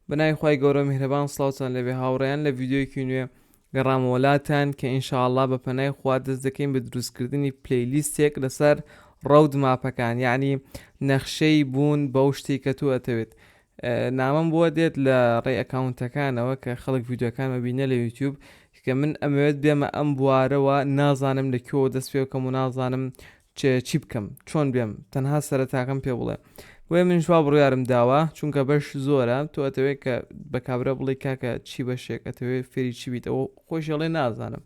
بەناوی خوای گەورە میهرەبان سڵاوتان لەبێ هاوڕێیان لە ڤیددیویەکی نوێ گەڕامەوە لاتان کە ئینشاءاللە بە پەنای خوا دەست دەکەین بە دروستکردنی پلەیلیستێک لەسەر ڕەود ماپەکان یعنی نەخشەی بوون بەو شتی کە تۆ ئەتەوێت نامەم بۆ دێت لە ڕێ ئەکاونتەکانەوە کە خەڵک یددیوەکانمە بینە لە یوتیوب کە من ئەمەوێت بێمە ئەم بوارەوە نازانم لە کوێوە دەست پێ بکەم و نازانم چ چی بکەم چۆن بێم تەنها سەرەتاکەم پێ بڵێ بۆیە منش وا بڕیارم داوە چونکە بەش زۆرە تۆ ئەتەوێت کە بە کابرا بڵی کاکە چی بەشێک ئەتەوێت فێری چی بیت ئەوە خۆش هێڵێ نازانم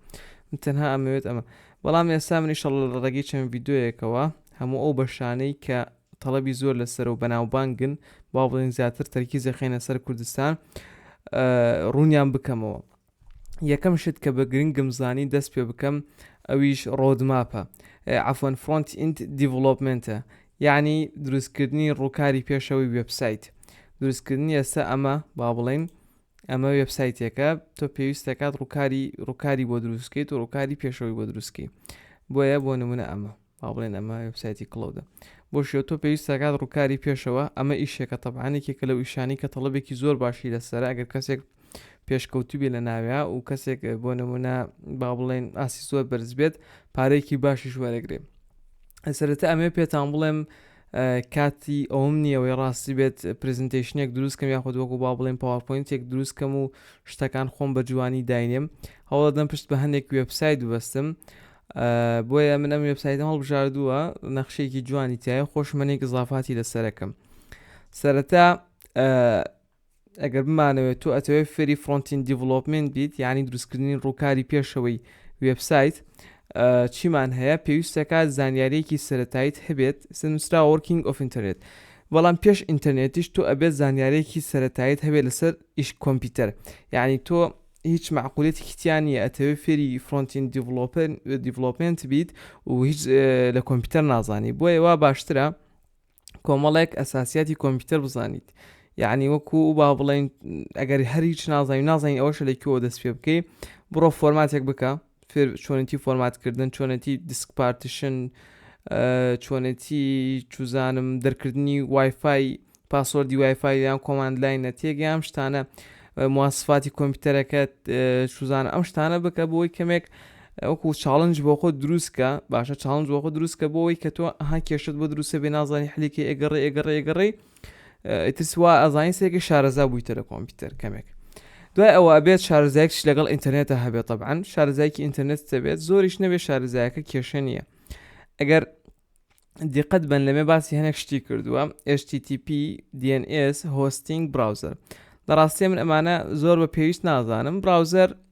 من تەنها ئەمەوێت ئەمە بەڵام ئێستا منی شەڵ لە ڕێگەی چەند یددیوەکەوە هەموو ئەو بەشانەی کە تەڵەبی زۆر لەسەر و بەناوبانگن با بڵین زیاتر تەرکیزە خێنە سەر کوردستان ڕوونیان بکەمەوە یەکەم شت کە بە گرنگم زانی دەست پێ بکەم ئەویش ڕۆدماپە عفۆن فرۆنت ئینت دیڤڵۆپمنتە یعنی دروستکردنی ڕووکاری پێشەوەی وبسایت دروستکردنی ئێستا ئەمە با بڵین ئەمە وبسایتێکە تۆ پێویستەکات ڕووکاری ڕووکاری بۆ دروستکەیت و ڕووکاری پێشەوەی بۆ دروستکەی بۆیە بۆ نمونە ئەمە با بڵێن ئەمە وێبسایتی کڵۆدە بۆ شێو تۆ پێویست دەکات ڕووکاری پێشەوە ئەمە ئیشێکە تەبعاان یەکێکە لەو ئیشانی کە تەڵەبێکی زۆر باشی لەسەر ئەگەر کەسێک پێشکەوتوو بێ لە ناوێ و کەسێک بۆ نمونە با بڵێن ئاسی زۆر بەرز بێت پارێکی باشیش وەرەگرێ ئەسەرەتە ئەمێ پێتان بڵێم کاتی ئەوم نییەوەی ڕاستی بێت پرزنتیشنێک دروستکەم یاخود وەکو با بڵێن پاوەپۆینتێک دروستکەم و شتەکان خۆم بە جوانی داینێم هەوڵدەم پشت بە هەندێک وێبسایت ببستم بۆیە من ئەم وێبسایتم هەڵبژاردووە نەخشێکی جوانی تایە خۆشمەنێک زافاتی لەسەرەکەم سەرەتا ئەگەر بمانەوێت تۆ ئەتەوێت فێری فرۆنتین دیڤلوپمنت بیت یعنی دروستکردنی ڕووکاری پێشەوەی وبسایت چیمان هەیە پێویستەکە زانیارێکی سەتاییت هەبێت سنووسرا وەرکینگ ئۆف ئینتەرنێت بەڵام پێش ئینتەرنێتیش تۆ ئەبێت زانیارێکی سەتاییت هەبێت لەسەر ئیش کۆمپیوتەر یعنی تۆ هیچ مەعقولیەتێکی تیا نیە ئەتەوێ فێری فرۆنت ئیند دیڤلۆپمێنت بیت و هیچ لە کۆمپیوتەر نازانی بۆیە وا باشترە کۆمەڵێک ئەساسیاتی کۆمپیوتەر بزانیت یعنی وەکو و با بڵێن ئەگەری هەر هیچ نازانین نازانین ئەوەشە لە کوێوە دەست پێ بکەی بڕۆ فۆرماتێک بکە فێر چۆنێتی فۆرمات کردن چۆنێتی دیسک پارتیشن چۆنێتی چوزانم دەرکردنی وایفای پاسۆردی وایفای یان کۆماند لای نەتێک یام شتانە مواسفاتی کۆمپیوتەرەکەت سوزان ئەم شتانە بکە بۆی کەمێک ئەوکو چاڵنج بۆ خۆ دروستکە باشە چاڵنج بۆ خۆ دروستکە بۆەوەی کە تۆ ها کێشت بۆ دروستە بێ نازانی حلیکە ئێگەڕێ ئێگەڕێ ئێگەڕێ ئیتر سوا ئەزانین سێکە شارەزا بوویتە لە کۆمپیوتەر کەمێک دوای ئەوە ئەبێت شارزایکش لەگەڵ ئینتەرنێتە هەبێت طبعاان شارزایکی ئینتەرنێت دەبێت زۆریش نەبێت شارزایەکە کێشە نییە ئەگەر دیقەت بن لەمێ باسی هەنێک شتی کردووە HTTP DNS هۆستینگ براوزەر لە ڕاستیە من ئەمانە زۆر بە پێویست نازانم براوزەر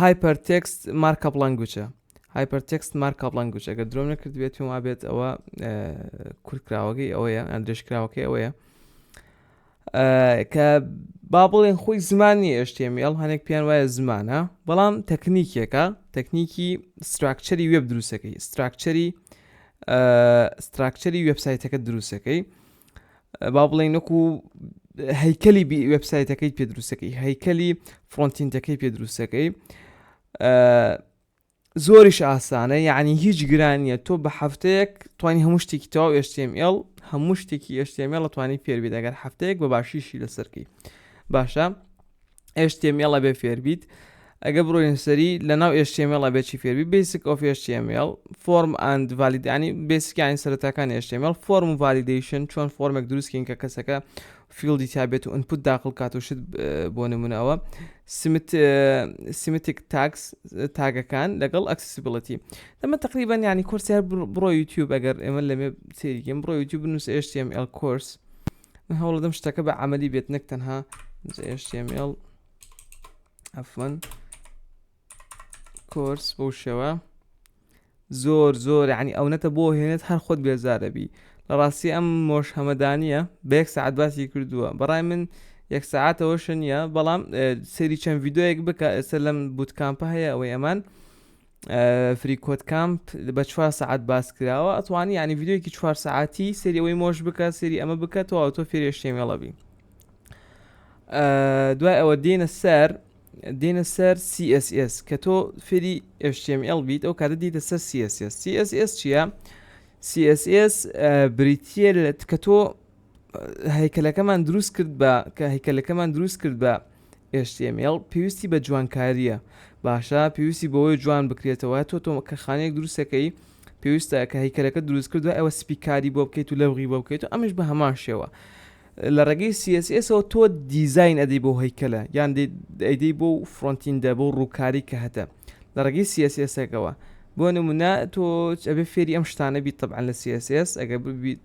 هایپەر تێکست مارکە بڵەنگوچە هایپەر تێکست مارکە بڵەنگوچ ئەگەر درۆم نەکرد بێت پێم وابێت ئەوە کورتکراوەکەی ئەوەیە ئەم درێژکراوەکەی ئەوەیە کە با بڵێن خۆی زمانی ئێشتێمیڵ هەنێک پێیان وایە زمانە بەڵام تەکنیکێکە تەکنیکی ستراکچەری وێب دروستەکەی ستراکچەری ستراکچەری وبسایتەکە دروستەکەی با بڵێ نەکو هەیکەلی وبسایتەکەی پێ دروستەکەی هەیکەلی فۆنتینتەکەی پێ دروستەکەی زۆریش ئاسانە یعنی هیچ گرانیە تۆ بە هەفتەیەک توانی هەموو شتێکی تەواو HTML هەموو شتێکی HTML توانی فێربی دەگەر هەفتەیەک بە باشیشی لەسەرکەی باشە HTML ئەبێ فێربیت ئەگە بڕۆین سەری لە ناو HTML ئەبێ چی فێربی بێسک ئۆف HTML فۆرم ئەند ڤالیدانی بێسکیانی سەرەتاکان HTML فۆرم و ڤالیدیشن چۆن فۆرمێک دروستکەین کە کەسەکە فیلدی تابێت و ئەنپوت داخل کات و شت بۆ نمونەوە سیمتیک تاکس تاگەکان لەگەڵ ئەکسسیبلەتی دەمە تقریبان ینی کورسیار بڕۆ یوتیوب ئەگەر ئێمە لەمێ سێریگەم بڕۆ یوتیوب بنووس HTML کورس من هەوڵدەم شتەکە بە عملی بێت نەک تەنها جشتێمێڵ ئەفمەن کۆرس بۆ شێوە زۆر زۆر عنی ئەو نەتە بۆ هێنێت هەر خۆت بێزارەبی لە ڕاستی ئەم مۆش هەمەدانە بەێک سعات باسی کردووە بەڕای من یەک سعاتەوەشە نییە بەڵام سەری چەند یددیوەک بکە ئێستا لەم بوتکامپە هەیە ئەوەی ئەمان فری کۆت کامپ بە چوار سعات باس کراوە ئەتوانی ینی یددیوکی چوار سعاتی سری ئەوەی مۆش بکە سری ئەمە بکە تۆ ئەو تۆ فێرێشتێ مێڵەبی دوای ئەوە دێنە سەر دێنە سەر CSS کە تۆ فێری HTML بیت ئەو کاتە دیتە سەر CSS CSS چییە؟ CSS بریتە لە کە تۆ هەیکەلەکەمان دروست کرد بە کە هەیکەلەکەمان دروست کرد بە HTML پێویستی بە جوانکاریە باشە پێویستی بۆەوەی جوان بکرێتەوە تۆ تۆ کە خانەیەک دروستەکەی پێویستە کە هیکەلەکە دروست کردو ئەوە سپیکاری بۆ بکەیت و لەوغی بۆ بکەیت و ئەمش بە هەمان شێوە لە ڕێگەی سیسەوە تۆ دیزین ئەدەی بۆ هەیکەلە یان ئەیدەی بۆ فرۆنتین دە بۆ ڕووکاری کە هەتە لە ڕێگەی سیسەکەەوە بۆ نمونە تۆ ئەبێ فێری ئەم شتانە بیت طبعا لە سیس ئەگە ببیت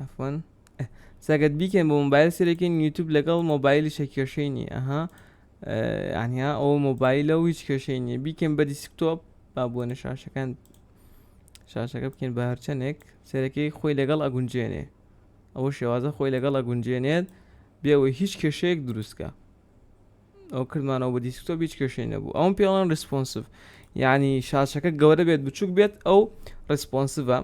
ئەفۆن سەگەت بیکەن بۆ مۆبایل سرێکین یوتوب لەگەڵ مۆبایلی شە کێشەی نیە ئەها ئەنیا ئەو مۆبایلە و هیچ کێشەی نیە بیکەن بە دیسکتۆپ با بۆ نە شاشەکان شاشەکە بکەین بە هەرچەندێک سەرەکەی خۆی لەگەڵ ئەگونجێنێ ئەوە شێوازە خۆی لەگەڵ ئەگونجێنێت بێەوەی هیچ کێشەیەک دروستکە ئەو کردمانەوە بە دیسکتۆپ هیچ کێشەی نەبوو ئەوم پێڵەن ریسپۆنسف یعنی شاشەکە گەورە بێت بچووک بێت ئەو ریسپۆنسڤە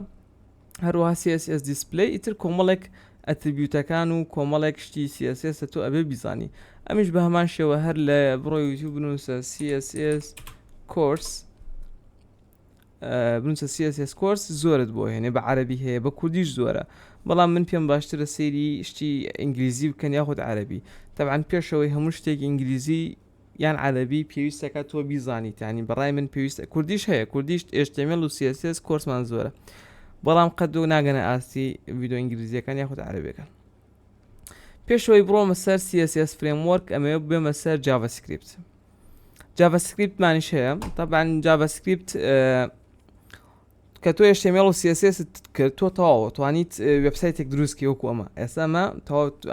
هەروە CSS دیسپلی ئیتر کۆمەڵێک ئەتریبیوتەکان و کۆمەڵێک شتی CSS تۆ ئەبێ بیزانی ئەمیش بە هەمان شێوە هەر لە بڕۆ یوتیوب بنووسە CSS کۆرس بنوسە css course زۆرت بۆ هێنێ بە عەربی هەیە بە کوردیش زۆرە بەڵام من پێم باشترە سەیری شتی ئینگلیزی بکەن یاخود عەربی تەبعاان پێشەوەی هەموو شتێک ئینگلیزی یان عەربی پێویستەکە تۆ بیزانی تانی بەڕای من پێویستە کوردیش هەیە کوردیشت ئێشتێمێل و سیسس کۆرسمان زۆرە بەڵام قەت و ناگەنە ئاستی ویددیو ئینگلیزیەکان یاخود عەربەکان پێش ئەوەی بڕۆمە سەر CSS Framework ئەمەوێ بێمە سەر JavaScript JavaScript مانیش هەیە طبعا JavaScript کە تۆ HTML و CSS کرد تۆ تەواوە توانیت وبسایتێک دروستکی وەکو ئەمە ئێستا ئەمە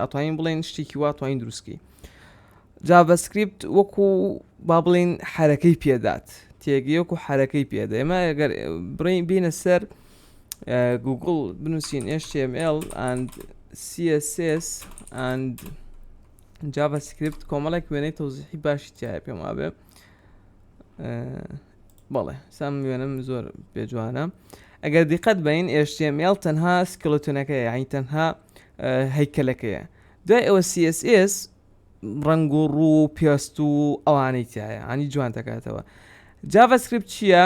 ئەتوانین بڵێن شتێکی وا توانین دروستکی JavaScript وەکو با بڵین حرەکەی پێدات تێگەیەک و حرەکەی پێدا ئێمە ئەگەر بڕین بینە سەر گوگڵ بنووسین HTML and CSS and جاڤا سکرپت کۆمەڵێک وێنەی تەوزیحی باشی تایە پێم وابێ بەڵێ سام وێنم زۆر پێجوانە ئەگەر دیقەت بین HTML تەنها سکلتونەکەی یعنی تەنها هەیکەلەکەیە دوای ئەوە CSS ڕنگ و ڕوو و پێست و ئەوانەی تایە ئەنی جوان دەکاتەوە جاڤسکرپت چییە؟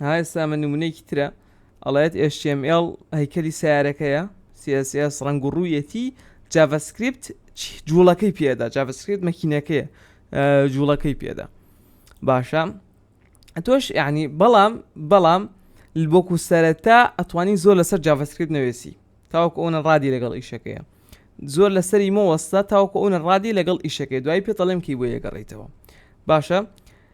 ها ئێستا من نمونەیەکی ترە ئەڵێت HTML هەیکەلی سیارەکەیە CSS ڕنگ و ڕوویەتی جاڤسکریپت جوڵەکەی پێدا جاڤسکریت مەکینەکەیە جوڵەکەی پێدا باشە تۆش یعنی بەڵام بەڵام بۆکو سەرەتا ئەتوانی زۆر لەسەر جاڤسکریت نوێسی تاوەکو ئەوە ڕادی لەگەڵ ئیشەکەیە زۆر لەسەری مۆوەستا تاوەکو ئەوە ڕادی لەگەڵ ئیشەکەی دوای پێ دەڵێم کی بۆ یەگەڕیتەوە باشە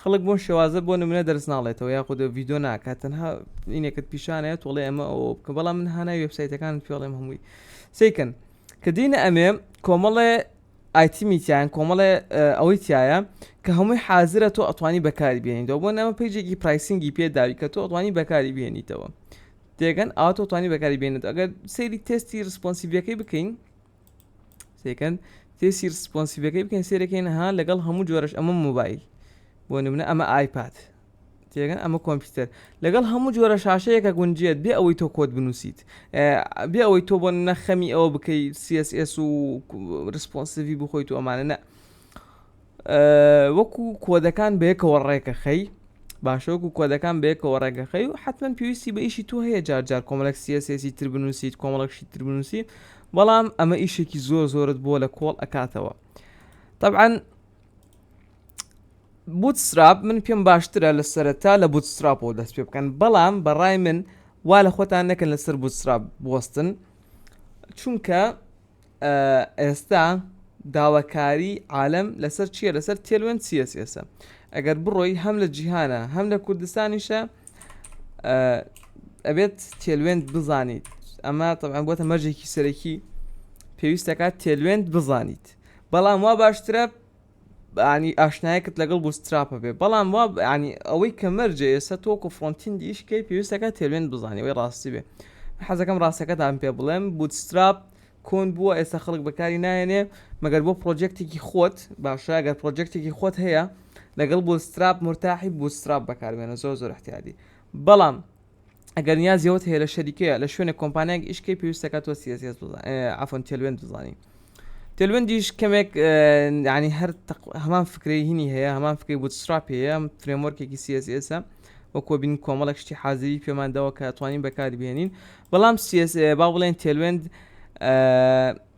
خەڵک بۆم شێوازە بۆ نمونە دەرس ناڵێتەوە یاخود ڤیدۆ ناکات تەنها ئینێکت پیشانەیە تۆڵێ ئەمە ئەوە بکە بەڵام من هانا وێبسایتەکان پێڵێم هەمووی سیکەن کە دینە ئەمێ کۆمەڵێ ئایتیمی تیان کۆمەڵێ ئەوەی تایە کە هەمووی حازرە تۆ ئەتوانی بەکاری بێنیتەوە بۆ نەمە پیجێکی پرایسنگی پێداوی کە تۆ ئەتوانی بەکاری بێنیتەوە تێگەن ئاتۆتوانی بەکاری بێنێت ئەگەر سەیری تستی ریسپۆنسیڤەکەی بکەین سێکەند تێسی ڕسپۆنسیڤەکەی بکەین سێرەکەین ها لەگەڵ هەموو جۆرەش ئەمە موبایل بۆ نمونە ئەمە ئایپات تێگەن ئەمە کۆمپیوتەر لەگەڵ هەموو جۆرە شاشەیەکە گونجێت بێ ئەوەی تۆ کۆت بنووسیت بێ ئەوەی تۆ بۆ نەخەمی ئەوە بکەیت CSS و ڕسپۆنسیڤی بخۆیت و ئەمانە نە وەکو کۆدەکان بەیەکەوە ڕێکەخەی باشۆک و کۆدەکان بەیەکەوە ڕێگەخەی و حتمما پێویستی بە ئیشی تۆ هەیە جارجار کۆمەڵک سیەسێسی تر بنووسیت کۆمەڵکشی تر بنووسی بەڵام ئەمە ئیشێکی زۆر زۆرت بۆ لە کۆڵ ئەکاتەوە طبعاً بوتسراب من پێم باشترە لە سەرەتا لە بوتسراب و دەست پێ بکەن بەڵام بەڕای من وا لە خۆتان نەکەن لەسەر بوتسراب بستن چونکە ئێستا داواکاری عالەم لەسەر چیە لەسەر تێلوێن سیەس ئێسە ئەگەر بڕۆی هەم لە جیهانە هەم لە کوردستانیشە ئەبێت تێلوێن بزانیت ئەمە طبعا بۆتە مەرجێکی سەرەکی پێویستەکە تێلوێن بزانیت بەڵام وا باشترە یانی ئاشنایەکت لەگەڵ بوستراپە بێ بەڵام وا یانی ئەوەی کە مەرجە ئێستا تۆ وەکو فڕۆنتیندی ئیش کەی پێویستەکە تێلوێن بزانی ئەوەی ڕاستی بێ من حەزەکەم ڕاستەکەتان پێ بڵێم بوتستراپ کۆن بووە ئێستا خەڵک بەکاری نایەنێ مەگەر بۆ پرۆجێکتێکی خۆت باشە گەر پرۆجێکتێکی خۆت هەیە لەگەڵ بوستراپ مرتاحی بوستراپ بەکاربێنە زۆر زۆر احتیادی بەڵام ئەگەر نیازی ئەوت هەیە لە شەریکەیە لە شوێنێک کۆمپانیایەک ئیش کەی پێویستەکە تۆ CSS بزان اه، عفوا تێلوێن بزانی تێلوێندیش کەمێک اه، یعنی هەر تەق- هەمان فکرەی هینی هەیە هەمان فکری بوتستراپ هەیە فرێمۆرکێکی CSS ە وەکوە بین کۆمەڵێک شتی حازری پێمان داوە کە توانین بەکاری بهێنین بەڵام CS اه، با بڵێن تێلوێند اه،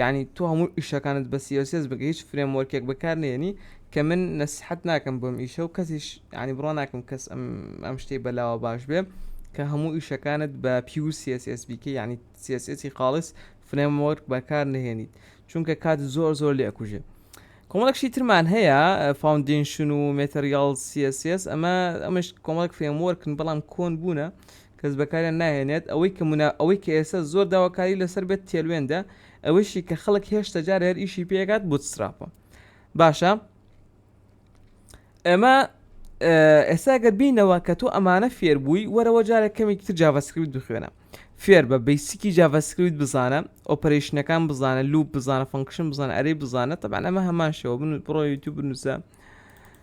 یەعنی تۆ هەموو ئیشەکانت بە css بکە هیچ فرێم وۆرکێک بەکار نەیەنی کە من نەسیحەت ناکەم بۆ ئەم ئیشە و کەسیش یەعنی بڕوا ناکەم کەس ئەم ئەم شتەی بەلاوە باش بێ کە هەموو ئیشەکانت بە پیور css بیکەی یەعنی css ی خاڵیس فرێم وۆرک بەکار نەهێنیت چونکە کات زۆر زۆر لێ ئەکوژێ کۆمەڵێک شتی ترمان هەیە فاوندینشن و مێتریاڵ css ئەمە ئەمەش کۆمەڵێک فرێم وۆرکن بەڵام کۆن بوونە کەس بەکاریان ناهێنێت، ئەوەی کە منا ئەوەی کە ئێستا زۆر داواکاری لەسەر بێت تێلوێندە، ئەوەیشی کە خەڵک هێشتا جارێ هەر ئیشی پێ ئەکات بوتسترافە. باشە ئێمە ئێستا گەر بینەوە کە تۆ ئەمانە فێر بووی وەرەوە جارێک کەمێکی تر جاڤاسکریپت بخوێنە فێر بە بیسیکی جاڤاسکریپت بزانە ئۆپەرەیشنەکان بزانە لوپ بزانە فەنکشن بزانە ئەرەی بزانە تەبان ئەمە هەمان شەوە بن بڕۆ یوتیوب بنووسە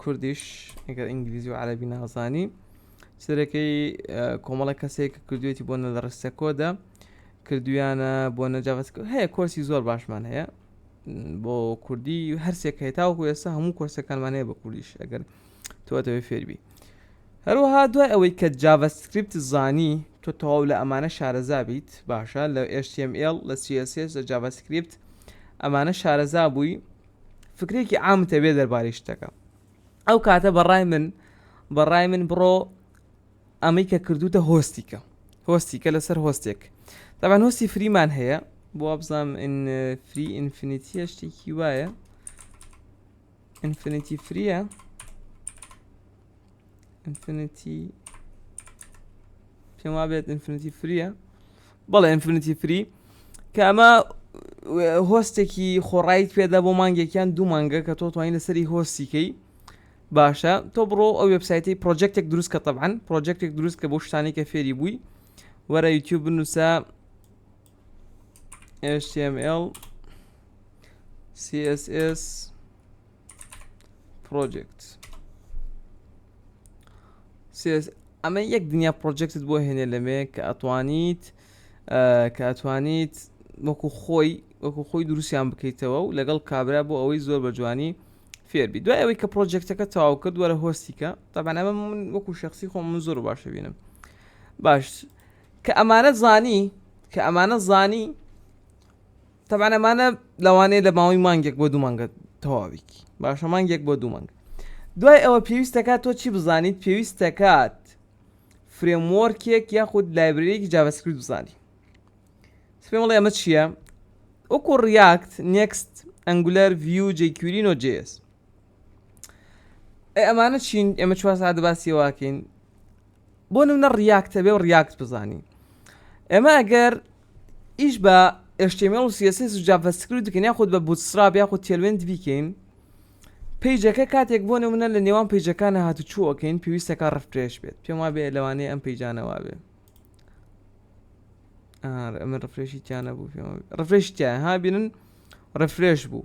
کوردیش ئەگەر ئینگلیزی و عەرەبی نازانی چ دەرەکەی کۆمەڵە کەسێک کە کردوێتی بۆ نە لە ڕستە کۆدا کردویانە بۆ نەجااوت هەیە کۆرسی زۆر باشمان هەیە بۆ کوردی هەرسێک هەیە تاوەکو ئێستا هەموو کۆرسەکانمان هەیە بە کوردیش ئەگەر تۆتەوەی فێربی هەروەها دوای ئەوەی کە جاڤسکریپت زانی تۆ تەواو لە ئەمانە شارەزا بیت باشە لە HTML لە CSS لە جاڤسکریپت ئەمانە شارەزا بووی فکرێکی عامت هەبێ دەربارەی شتەکە ئەو کاتە بەڕای من بەڕای من بڕۆ ئەمەی کە کردوتە هۆستیکە هۆستیکە لەسەر هۆستێک دەبان هۆستی فریمان هەیە بۆ بزانام فری ئینفینیتیە شتێکی وایە ئینفینیتی فریە ئینفینیتی پێم وابێت ئینفینیتی فریە بەڵێ ئینفینیتی فری کە ئەمە هۆستێکی خۆڕایت پێدا بۆ مانگێکیان دوو مانگە کە تۆ توانین لەسەری هۆستیکەی باشە تۆ بڕۆ ئەو وبسایتی پرۆجێکتێک دروست کە تەبان پرۆجێکتێک دروست کە بۆ شتانی کە فێری بووی وەرە یوتیوب بنووسە html css project CS ئەمە یەک دنیا پرۆجێکتت بۆ هێنێ لەمێ کە ئەتوانیت کە ئەتوانیت وەکو خۆی وەکو خۆی دروستیان بکەیتەوە و لەگەڵ کابرا بۆ ئەوەی زۆر بە جوانی فێربی دوای ئەوەی کە پرۆجێکتەکە تاو کرد وەرە هۆستیکە تابانەمە من وەکو شخصی خۆم من زۆر باشە بینم باش کە ئەمانە زانی کە ئەمانە زانی تەبعەن ئەمانە لەوانەیە لە ماوەی مانگێک بۆ دوو مانگە تەواویکی باشە مانگێک بۆ دوو مانگ دوای ئەوە پێویستەکە تۆ چی بزانیت پێویستەکات فرێمۆرکێک یاخود لایبرەرێکی جاڤسکرت بزانی سپێڵێ ئەمە چییە وەکو ڕیاکت نێکست ئەنگولەر ڤیو جێکیورین و جێس ئەمانە چین ئێمە چوار ساعت باسی واکەین بۆ نمونە ڕیاکت هەبێ و ڕیاکت بزانی ئێمە ئەگەر ئیش بە HTML و CSS و JavaScript بکەین یاخود بە Bootstrap یاخود Tailwind بیکەین پەیجەکە کاتێک بۆ نمونە لە نێوان پەیجەکانە هاتوچۆکەین پێویستەکە ڕفرێش بێت پێم وابێ لەوانەیە ئەم پەیجانەوە بێ ئەمە ڕفرێشی تیانە بوو پێم ڕفرێش تیا ها بینن ڕفرێش بوو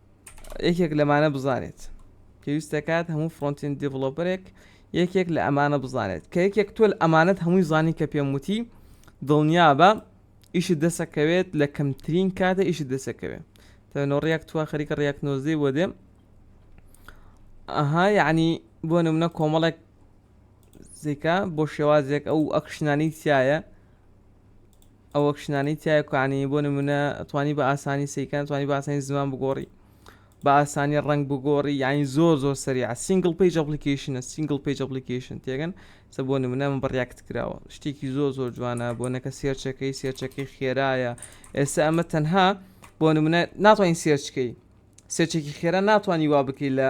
یەکێک لەمانە بزانێت پێویست دەکات هەموو فرۆنتین دیڤڵۆپەرێک یەکێک لە ئەمانە بزانێت کە یەکێک تۆ ئەمانەت هەمووی زانی کە پێم وتی دڵنیابە ئیشت دەسەکەوێت لە کەمترین کاتە ئیشت دەسەکەوێت تەنۆ ڕیاک توا خەریکە ڕیاک نۆزدەی بۆ دێم ئەها یعنی بۆ نمونە کۆمەڵێک زیکە بۆ شێوازێک ئەو ئەکشنانی تایە ئەو ئەکشنانەی تیایە کە یانی بۆ نمونە توانی بە ئاسانی سەیکان توانی بە ئاسانی زمان بگۆڕی بە ئاسانی ڕنگ بگۆڕی یانی زۆر زۆر سریع سینگل پیج ئەپلیکیشنە سینگل پیج ئەپلیکیشن تێگەن سە بۆ نمونە من بڕیاکت کراوە شتێکی زۆر زۆر جوانە بۆ نەکە سێرچەکەی سێرچەکەی خێرایە ئێستا ئەمە تەنها بۆ نمونە ناتوانین سێرچکەی سێرچێکی خێرا ناتوانانی وا بکەی لە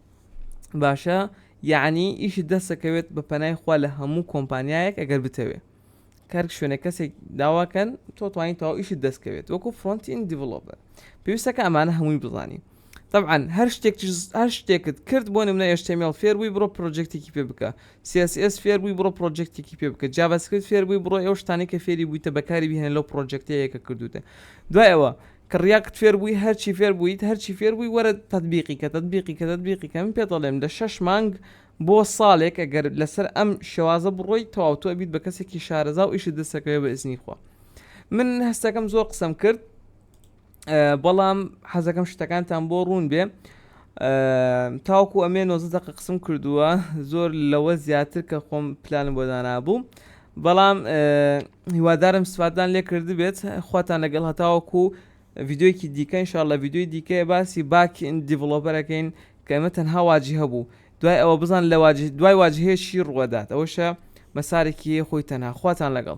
باشە یعنی ئیش دەسەکەوێت بە پەنای خوا لە هەموو کۆمپانیایەک ئەگەر بتەوێ کار شوێنە کەسێک داواکەن تۆ توانین تەواو ئیشت دەستکەوێت وەکو فرۆنتین دیڤلۆپەر پێویستەکە ئەمانە هەمووی بزانی طبعا هەر شتێک هەر شتێکت کرد بۆ نمونە ئێشتێمیڵ فێر بووی بڕۆ پرۆجێکتێکی پێ بکە سیSS فێر بووی بڕۆ پرۆجێکتێکی پێ بکە جاابسکرت فێر بووی بڕۆ ئەو شتانی کە فێری بوویتە بەکاری بهێن لەو پرۆجێکتەیەکە کردوتە دوایەوە کڕیاکت فێر بووی هەرچی فێر بوویت هەرچی فێر بووی وەرە تەتبیقی کە تەتبیقی کە تەتبیقی کە من پێت ئەڵێم لە شەش مانگ بۆ ساڵێک ئەگەر لەسەر ئەم شێوازە بڕۆی تەواو تۆ ئەبیت بە کەسێکی شارەزا و ئیشت دەستەکەوێ بە ئیزنی خوا من هەستەکەم زۆر قسەم کرد بەڵام حەزەکەم شتەکانتان بۆ ڕوون بێ تاوکو ئەمێ نۆزە دەقە قسم کردووە زۆر لەوە زیاتر کە خۆم پلانم بۆ دانابوو بەڵام هیوادارم سفادتان لێ کردبێت خواتان لەگەڵ هەتاوەکو ڤیددیوەکی دیکە انشاء لە ڤیددیوی دیکەیە باسی باکی ئین دیڤڵۆپەرەکەین کە ئەمە تەنها واجی هەبوو دوای ئەوە بزان لە دوای واجهەیە چی ڕووەدات ئەوەشە مەسارێکی خۆی تەنها خواتان لەگەڵ